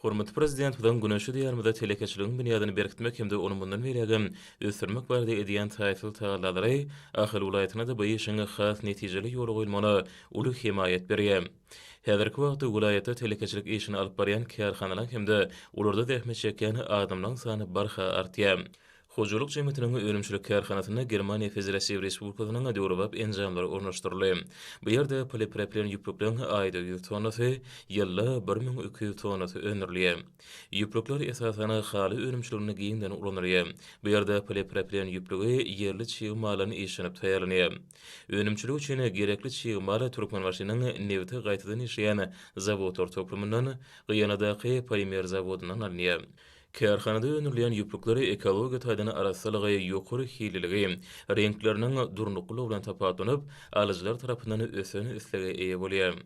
Hormatly Prezidentimiziň güneşli Diýarymyzda telekeçiligiň binýadyny berkitmek hem-de ony mundan beýlägem ösdürmek barada edýän taýsyz tagallalary Ahal welaýatynda-da bu işiň has netijeli ýola goýulmagyna uly hemaýat berýär. Häzirki wagtda welaýatda telekeçilik işini alyp barýan kärhanalaryň hem-de olarda zähmet çekýän adamlaryň sany barha artýar. Hojalyk jemgyýetiniň önümçilik kärhanasynda Germaniýa Federatiw Respublikasynyň döwrebap enjamlary ornaşdyryldy. Bu ýerde polipropilen ýüplükleň aýda ýüz tonnasy, ýylda bir müň iki ýüz tonnasy öndürilýär. Ýüplükler, esasan, haly önümçiliginde giňden ulanylýar. Bu ýerde polipropilen ýüplügi ýerli çig maldan işlenip taýýarlanýar. Önümçilik üçin gerekli çig mal Türkmenbaşynyň nebiti gaýtadan işleýän zawodlar toplumyndan, Gyýanadaky polimer zawodyndan alynýar. Kärhanada öndürilýän ýüplükler ekologiýa taýdan arassalygy, ýokary hililigi, reňkleriniň durnuklylygy bilen tapawutlanyp, alyjylar tarapyndan ösen islege eýe bolýar.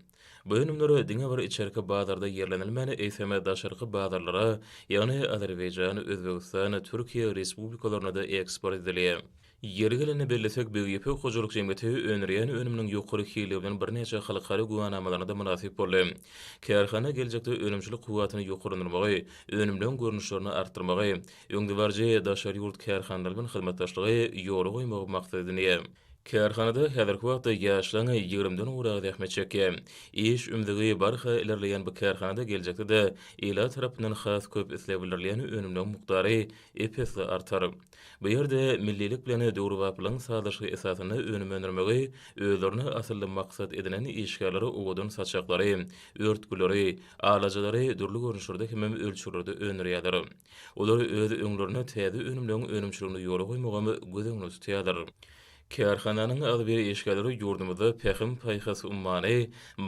Bu önümler diňe bir içerki bazarda ýerlenilmän, eýsem, daşarky bazarlara, ýagny Azerbaýjan, Özbegistan, Türkiýe respublikalaryna-da eksport edilýär. Ýeri gelende bellesek, Big Ýüpek hojalyk jemgyýeti öndürýän önüminiň ýokary hilli bilen birnäçe halkara güwanamalaryna-da mynasyp boldy. Kärhana geljekde önümçilik kuwwatyny ýokarlandyrmagy, önümleň görnüşlerini artdyrmagy, öňdebaryjy daşary ýurt kärhanalary bilen hyzmatdaşlygy ýola goýmagy maksat edindi. Kärhanada häzirki wagtda ýaşlaryň ýigrimden gowragy zähmet çekýär. Iş ümzügi barha ilerleýän bu kärhanada geljekde-de ilat tarapyndan has köp isleg bildirilýän önümleň mukdary ep-esli artar. Bu ýerde millilik bilen döwrebaplygyň sazlaşygy esasynda önüm öndürmegi özlerine asylly maksat edinen işgärler owadan saçaklary, örtgüleri, alajalary dürli görnüşlerde hemem ölçeglerde öndürýärler. Olar öz öňlerine täze önümleriň önümçiligini ýola goýmagam göz öňünde tutýarlar. Kärhananyň agzybir işgärleri ýurdumyzda Pähim-paýhas ummany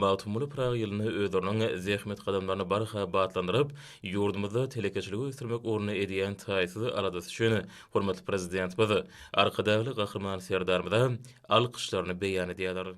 Magtymguly Pyragy ýylynda özleriniň zähmet gadamlaryny barha batlandyryp, ýurdumyzda telekeçiligi ösdürmek ugrunda edýän taýsyz aladasy üçin hormatly Prezidentimiz, Arkadagly Gahryman Serdarymyza alkyşlaryny beýan edýärler.